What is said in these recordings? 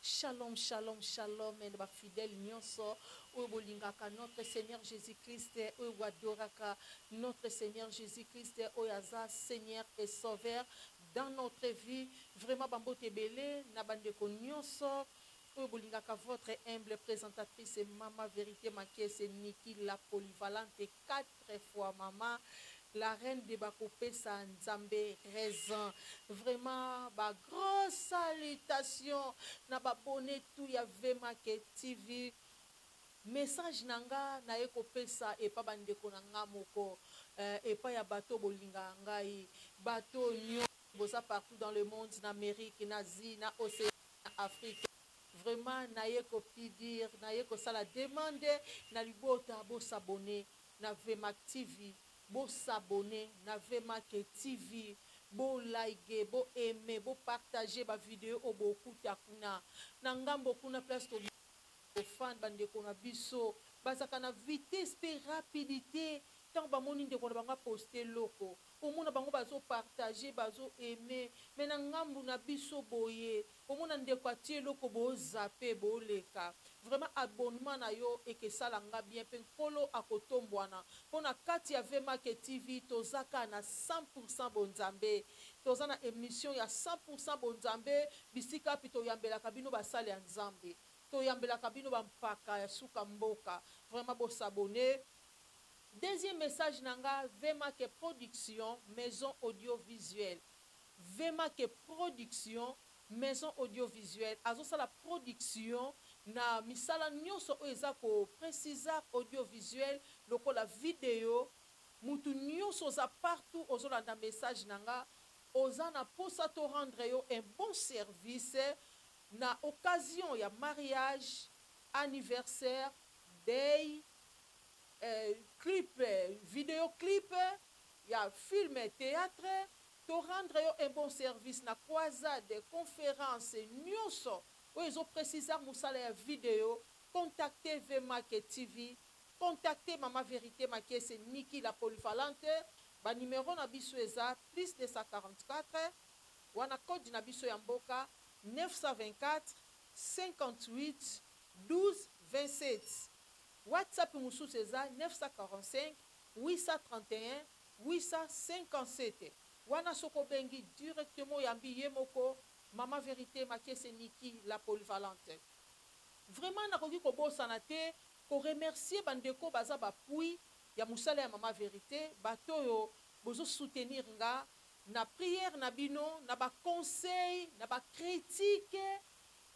Shalom shalom shalom na ba fidèles nionso oyo bolingaka notre Seigneur Jesus Christ oyo bo adoraka notre Seigneur Jesus Christ oyo aza Seigneur et Sauveur dans notre vie vraiment ba mbote ebele na ba ndeko nionso oyo bolingaka votre humble presentatrice Mama Verite Makiese Nicky la Polyvalente Kat Très fort maman la reine de bakopesa nzambe raison vraiment ba grand salutation na ba bonne tout ya vemake tv message na nga naye kopesa epa ba ndeko na nga moko euh, epa ya bato bolingaka ngai bato nyo boza partout dans le monde na amerique na asie na océan na afrique Vraiment naye ko pdir naye kosala demande na libota bo s'abonne na vmack TV bo s'abonne na vmack TV bo ligue bo aime bo partage ba video oyo bo kuta kuna na ngambo kuna place to ko fand ba ndeko na biso bazaka na vitesse pe rapidite tango ba moni ndeko na bango a poste eloko omona bango bazo partage bazo aime mais na ngambo na biso boye Omona ndeko atie eloko bo zappe bo leka vraiment abonnement na yo ekesala nga bien pe nkolo ako tombuana po na kati ya VMake TV toza ka na 100 pour 100 bo nzambe toza na emission ya 100 pour 100 bo nzambe bisikapi toyambelaka bino ba sali ya nzambe toyambelaka bino ba mpaka ya suka mboka vraiment bo s'abonne. Deuxième message na nga VMake production maison audio visuel. Vema que production maison audio visuel azosala production na misala nyoso oyo eza ko precisar audio visuel lokola video mutu nyoso oza partout ozolanda message na nga oza na posa to rendre yo un bon service na occasion ya mariage anniversaire deuil eh clip video clip ya film theatre To rendre yo un bon service na croisade, conference, nioso oyo ezo precisa musala ya video, contacter Vemake TV, contacter mama verite makiese Nicky la polyvalente, ba numero na biso eza plus 244, wana code na biso ya mboka, 924-58-12-27. Whatsapp mususu eza 945-831-0. 857 wana soki obengi directement oyambi ye moko maman verite makiese nicky la polyvalente vraiment nakoki kobosana te ko remercier ba ndeko baza ba pui ya musala ya maman verite bato oyo bozo soutenir nga na prière na bino na ba conseils na ba critiques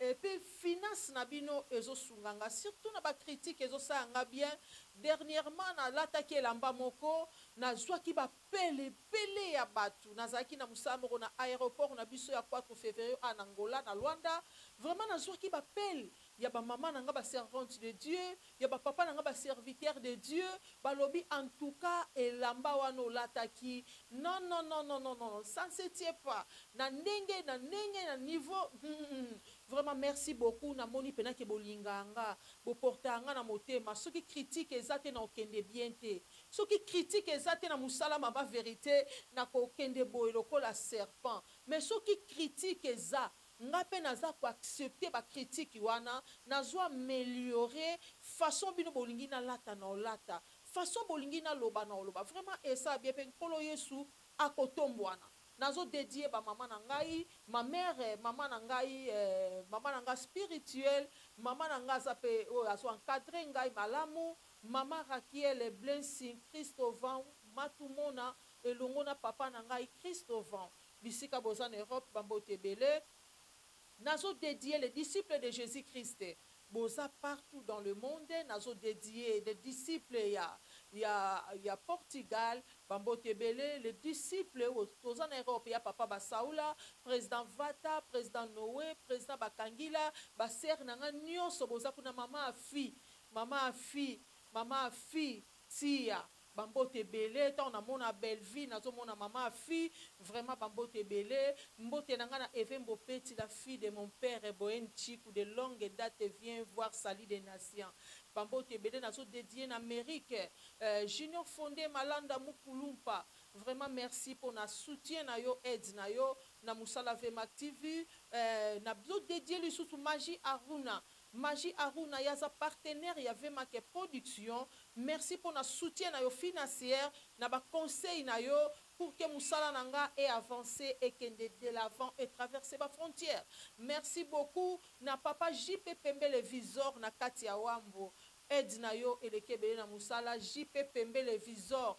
Et puis finance na bino ezo sunga nga surtout na ba critique ezo sala nga bien dernièrement na lataki elamba moko na zwaki ba pelle ebele ya batu na zalaki na musala moko na aeroport na biso ya quatro feverio a na Angola na Luanda vraiment na zwaki ba pelle ya ba maman na nga ba servante de Dieu ya ba papa na nga ba serviteur de Dieu ba lobi en tout cas elamba wana olataki non non non non non non ça ne se tient pas na ndenge na ndenge na niveau humm vraiment merci beaucoup na moni pena ke bo lingaka nga bo portaka nga na motema soki critique eza te nako kende bien te soki critique eza te na musala mama verite nako kende boye lokola serpent mais soki critique eza Nga pe naza ko accepter ba critiques wana nazo ameliorer façon bino bolingi nalata nao lata façon bolingi naloba nao loba vraiment esa bien pe nkolo yesu ako tombuana nazo dedier ba maman na ngai ma mère maman na ngai eh maman na nga spirituel maman na nga aza pe oyo azo encadrer ngai malamu maman rakiele blessing christo van matumona elongo na papa na ngai christo van Bisika boza na Europe ba mbote ebele. Nazo dedier les disciples de Jesus Christ boza partout dans le monde nazo dedier les disciples ya ya ya Portugal ba mbote ebele les disciples oyo toza na Europe ya papa Basaula, president Vata, president Noe, president Bakangila, ba sœurs na nga nionso boza kuna maman Afi, maman Afi, maman Afi tsiya. Ba mbote ebele tango na mona Bellevue nazo mona maman ya fille vraiment ba mbote ebele mbote na nga na Evembo Peti la fille de mon pere Boheme Tshiku de longue date viens voir salut des nations ba mbote ebele nazo dedier na Merick eh Junior Fonde Malanda Mukulumpa vraiment merci pona soutien na yo aide na yo na musala Vmactv eh nazo dedier lisusu Magie Aruna Magie Aruna ye aza partenaire ya Vemake Production, merci pona soutien nayo finacier na ba conseils nayo pour que musala na nga e avancer ekende de l'avant e traverser ba frontières. Merci beaucoup na papa JP Pembele Visor na kati ya Wambo, aide nayo eleki ebele na musala JP Pembele Visor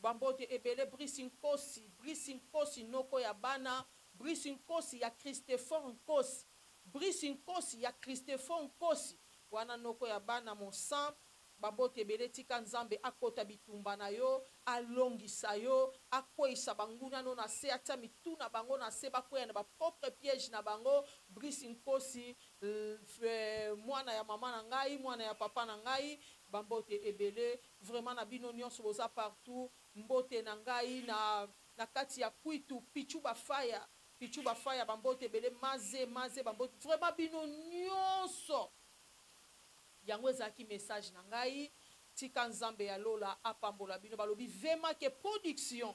Ba mbote ebele Brice Nkosi, Brice Nkosi noko ya bana, Brice Nkosi ya Christefor Nkosi, Brice Nkosi ya Christefor Nkosi, wana noko ya bana mon sang, ba mbote ebele tika Nzambe akota bitumba na yo, alongisa yo, akweyisa ba nguna no na se, atia mitu na bango na se bakweya na ba propre piege na bango, Brice Nkosi lheuuh mwana ya maman na ngai, mwana ya papa na ngai, ba mbote ebele Vraiment na bino nionso boza partout mbote na ngai na na kati ya kwitu pitshou ba faya pitshou ba faya ba mbote ebele maze maze ba mbote vraiment bino nionso yango ezalaki message na ngai tika nzambe ya lola apambola bino balobi vema ke production